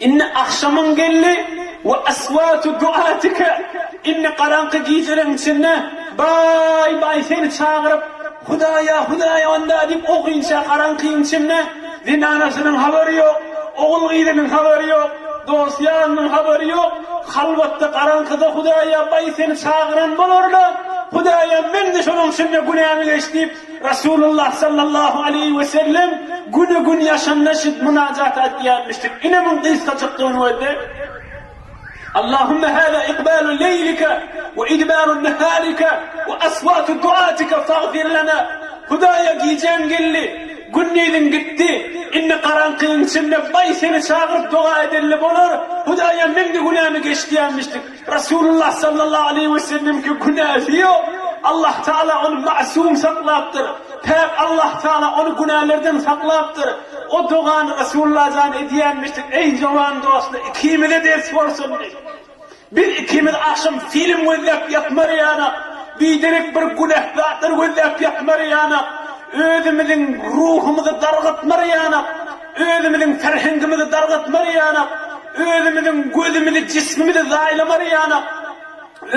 Indi agşamyň geldi we aswatu duatika indi garaňky gijeleň içinde baý baý seni çagyryp Hudaýa Hudaýa onda diýip o günçä garaňkyň içinde zenanasynyň habary ýok ogul gyzynyň habary ýok dost ýarynyň habary ýok halwatda garaňkyda Hudaýa baý seni çagyran bolarla Hudaýam meňde şonuň içinde günämi geç diýip Resulullah sallallahu aleýhi we sellem güne gün ýaşanda şit mynajaty aýtýarmyşdyk. Ine muň gysgajykdygyny gözle. Allahumma hada ikbalu leýlika we idbaru naharika we aswatu duatika fagfir lana. Hudaýa gijäň geldi, gündiziň gitdi. Indi garaňkyň içinde baý seni çagyryp doga edenle bolar. Hudaýa meň-de günämi geç diýärmişdik. Resulullah sallallahu aleýhi we sellemki günäsi ýok. Allah Taala ony masum saklapdyr. Päk Allah Taala ony günälerden saklapdyr. O dogany Resulullah jan edýänmişdik, Eý jowan dostlar, ikimize ders bolsun diýip. Biz ikimiz agşam film gözläp ýatmarýanak, biderek bir günäh zatlar gözläp ýatmarýanak, özümiziň ruhumyzy dargatmarýanak. Özümiziň ferhengimizi dargatmaryýanak, özümiziň gözümizi, jismimizi zaýlamaryýanak,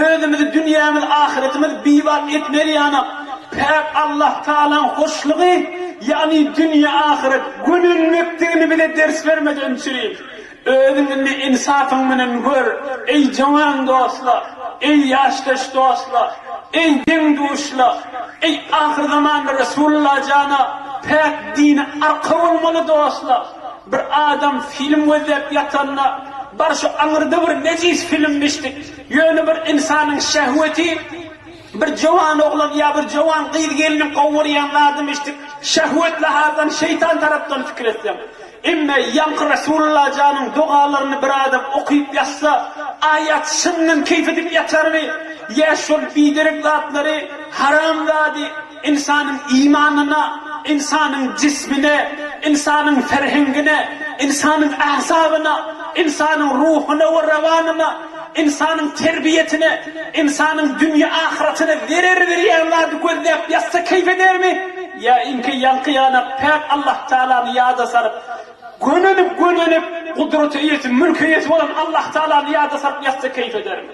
özümizi, dünýämizi, ahyretimizi bibat etmeryýanak. Päk Allah Tagalaň hoşlugy, ýagny dünýe-ahyret, gönenmekdigini bize ders bermedi, öňçüri. Özüň indi ynsabyň bilen gör, eý, jowan dostlar! Eý, ýaşdaş dostlar! Eý, deň-duşlar! Eý, ahyrzaman Resulalla jana, päk dine arka bolmaly dostlar! Bir adam film gözläp ýatanda, Bar şu aňyrda bir nejis film biçdik. Ýöne bir ynsanyň şähweti, bir jowan oglan ýa bir jowan gyz-gelniň gowy görýän zadymy biçdik. Şähwet lahardan, şeýtan tarapdan pikir etseň. Emma ýaňky Resulalla janyň dogalaryny bir adam okyp ýatsa, aýat şyndan keýp edip ýatarmy? Ýa şol biderek zatlary haram zady ynsanyň imanyna, ynsanyň jismine, ynsanyň ferhengine, ynsanyň agzabyna, ynsanyň ruhuna we rawanyna, ynsanyň terbiýesine, ynsanyň dünýe-ahyratyna zerer berýän zady gözläp ýatsa keýp edermi? Ýa iňki ýaňky ýanak päk Allahtaalany ýada salyp, gönenip, gönenip, gudrata eýesi, mülke eýesi bolan Allahtaalany ýada salyp ýatsa keýp edermi?